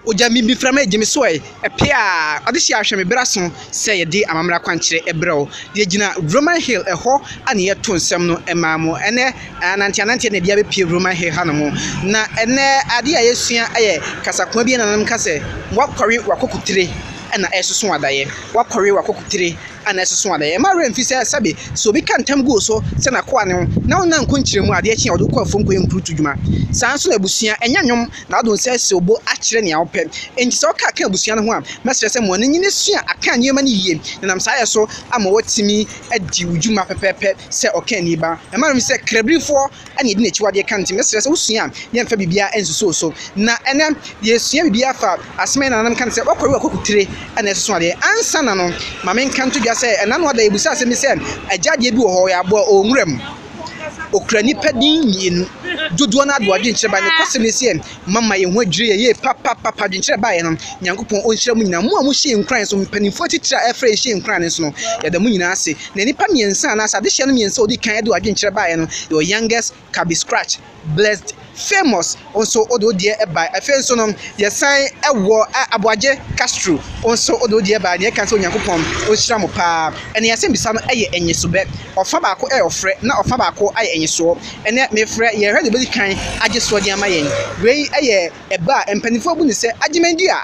Ogya me bi frama egye me so ɛ, ɛpe a, ɔde hye ahwɛ me bra so sɛ yɛde amammerɛ akwankyerɛ ɛbrɛ wo. Deɛ gyina Roman Hill ɛhɔ a na yɛto nsɛm no ɛmaa mo ɛnɛ anante anante na ɛbia bɛpie Roman Hill ha nom. Na ɛnɛ adeɛ a yɛsua ɛyɛ kasakoa bi a nananom ka sɛ, Wakɔre w'akokotire ɛna ɛresoso adaeɛ. Wakɔre w'akokotire a na ɛsoso a, na ɛmma werɛ mfi sɛ sɛbe sɛ obi ka ntam gu wo so sɛ n'akoa ne wo na wonnya nkɔ nkyerɛmu a, adeɛ kye a wɔde wo kɔ afuom kɔyɛ nkurutu dwuma. Saa ara nso na abusua nyɛ nnwom na adom sɛ sɛ obo akyerɛ nea wopɛ. Enti sɛ woka ka abusua no ho a, mɛsrɛ sɛ ma w'ani nnye na sua aka nneɛma no yie na ɛnam saa yɛ so ama woatumi adi wo dwuma pɛpɛɛpɛ sɛ ɔkani ba. Ɛmma werɛ mfi sɛ Krabifoɔ ɛna yɛde n'akyiwadeɛ ka no nti mɛsrɛ sɛ wosua a yɛmfa biribiara nsusu wo so na ɛnɛ yɛsua biribiara fa asɛm a yɛn nananom ka no sɛ wɔkɔre wɔkɔku tire ɛna ɛsoso adeɛ ansa na no ma menka nto dwa sɛ ɛna no ada yɛbusa asɛm bi sɛ agya adeɛ bi wɔ hɔ ɔyɛ aboa ɔwɔ nwura mu okura nipa din mmienu dodoɔ no adoɔ adwenkyerɛ ba ne kɔsɛm ne sɛ mama yɛn ho adwiri yɛn yie papapapa adwenkyerɛ baeɛ no nyankopɔn ɔnhyira mu nyinaa mo a mohyɛ nkuran so mpanimfoɔ atitire a ɛfrɛ ɛhyɛ nkuran no so no yɛda mo nyinaa ase na nnipa mmiɛnsa anaasɛ adehyeɛ no mmiɛnsa ɔdi kan de adwenkyerɛ baeɛ no yɛwɔ youngest kabi scratch blessed famous nso ɔde ɔdeɛ ɛbae afei nso no yɛsan ɛwɔ aboagye castro nso ɔde ɔdeɛ ɛbae na yɛka sɛ onyankopɔn ɔnhyira mo paa ɛne yɛsɛ mbisa no ɛyɛ ɛnyesobɛ ɔfa baako ɛyɛ ɔfrɛ na ɔfa baako ayɛ ɛnyesoɔ Ɛnnɛ, mefrɛ yɛn radio bedi kan agye soɔ de ama yɛn. Wei yɛ ɛbɛ a mpanimfoɔ bu no sɛ Agyeman-di a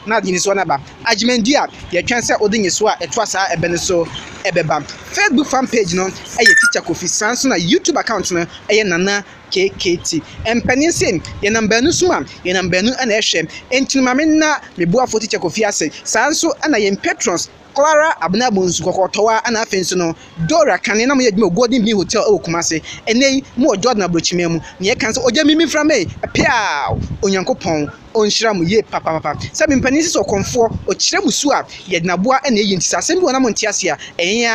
na nyesoɔ no aba. Agyeman-di a yɛtwɛn sɛ wode nyesoɔ a ɛtoa saa ɛbɛ no so bɛba. Facebook fan page no yɛ Teacher Kofi, saa nso na YouTube account no yɛ Nana KKT. Mpanin se yɛnam baanu som a, yɛnam baanu na ɛhwɛ. Enti no ma menna me boafoɔ Teacher Kofi ase, saa nso na yɛn patrons, Clara Abena Bonsu kɔkɔɔ tɔwa na afei nso no Dora Kane na wɔyɛ adwuma wɔ Golden Bean Hotel wɔ Kumase. Ɛnnɛ yi mowɔ Jordan Aburokyiman mu. Nea ɛka ne sɛ ogya me mframa ei, peaw! Onyankopɔn ɔnhyira mo yie papaapa. Sɛ me mpanin sisi ɔkɔmfoɔ, ɔkyerɛ mo su a, yɛde no aboa na ɛyɛ nti sɛ asɛm bi wɔ hɔ na monte ase a, ɛyɛn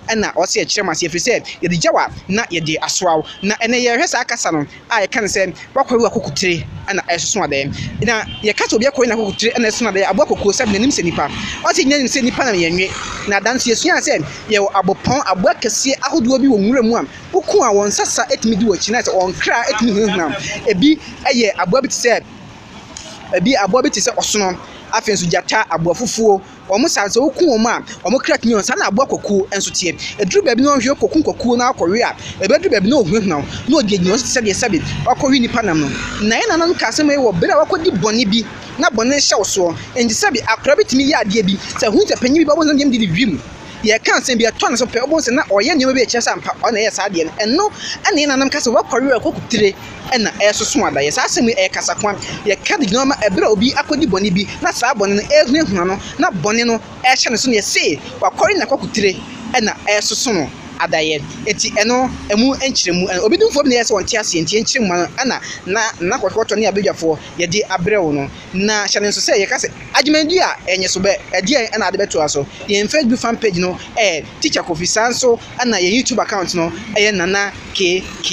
ara na ɔsɛ yɛkyerɛ mo ase ɛfiri sɛ yɛde gyaw a na yɛde asoa wo. Na ɛnnɛ yɛrehwɛ saa kasa no. a yɛka no sɛ w'akɔre w'akokotire na ɛsoso adɛɛ. Na yɛka sɛ obi akɔre n'akokotire na ɛsoso adɛɛ a, aboa kokuo sɛ n'anim sɛ nipa. Ɔte nyɛ nim sɛ nipa na yɛn nwe. Na da nso yɛsuaa sɛ yɛwɔ abopɔn, aboa kɛseɛ ahodoɔ bi wɔ nwura mu a woku a wɔn nsa sa tumi di w'akyi na sɛ wɔn kra tumi hunahuna wo. Ebi yɛ aboa bi te sɛ, ebi aboa bi te sɛ ɔsono. Afei nso gyata, aboafufuo, Wɔn saa no, sɛ woku wɔn a, wɔn kra tumi yɛ wɔn. Saa na aboa kwakuo nso teɛ. Ɛduru baabi na ɔhwe kɔkum kwakuo no ara kɔwe a, ɛbɛduru baabi na ɔhunahuna wo, na ɔde agyina wo so te sɛ deɛ sɛbe ɔrekɔwe nnipa nam no. Na yɛn nananom kaa asɛm wei wɔ berɛ a wɔakɔdi bɔne bi na bɔne rehyɛ wo soɔ. Enti sɛbe akwadaa bi tumi yɛ adeɛ bi, sɛ ɛhunu sɛ panin bi ba a, wobɛhu sɛ na deɛ no didi wim. Yɛreka nsɛm bi, ɛtɔ ne so pɛ, wobɛhu sɛ na ɔreyɛ nneɛma bi a ɛkyerɛ sɛ ampa ɔno na ɛyɛɛ saa adeɛ no. Ɛno na yɛn nananom ka sɛ, Woakɔwe a, kɔkutire. na ɛresoso adayɛ. Saa asɛm yi yɛ kasakoa. Yɛka de gyina hɔ ma bere a obi akodi bɔne bi na saa bɔne no rehunahuna no na bɔne no rehyɛ ne so no, yɛse wakɔre na kɔkotire na ɛresoso no adayɛ. Enti ɛno mu nkyerɛmu no, obi dumfoɔ bi na ɛyɛ sɛ ɔnte aseɛ, enti yɛn nkyerɛmu ma no na na na kɔtɔkɔtɔ ne abadwafoɔ yɛde abrɛ wo no. Na hyɛ no nso sɛ yɛka sɛ adwumadi a ɛnye so bɛ, ɛdeɛn na ade bɛtoa so? Yɛn Facebook fan page no ɛ, Teacher Kofi, saa nso. ɛna yɛn YouTube account no ɛyɛ Nana KK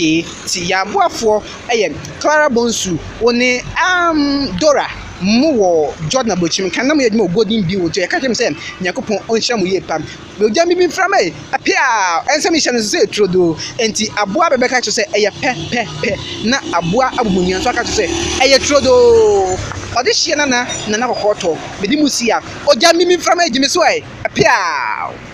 ti yɛn aboafoɔ ɛyɛ Clara Bonsu wo ne um, Dora mo wɔ Jordan Abokyim kan na mo yɛ adwuma wɔ Golden Bill nti ɛka kyerɛ mo sɛ Nyankopɔn ɔnhyira mo yie pam ogya bibi mframa yi apɛ a ɛnsɛ mehyɛ no sɛ ɛturo do nti aboa bɛbɛka kyerɛ sɛ ɛyɛ pɛ pɛ pɛ na aboa abobonua nso aka kyerɛ sɛ ɛyɛ turo do ɔde hyeɛ nana nana kɔkɔɔ tɔ bɛdi mu si a ogya bibi mframa yi gyimi so ɛ apɛ a.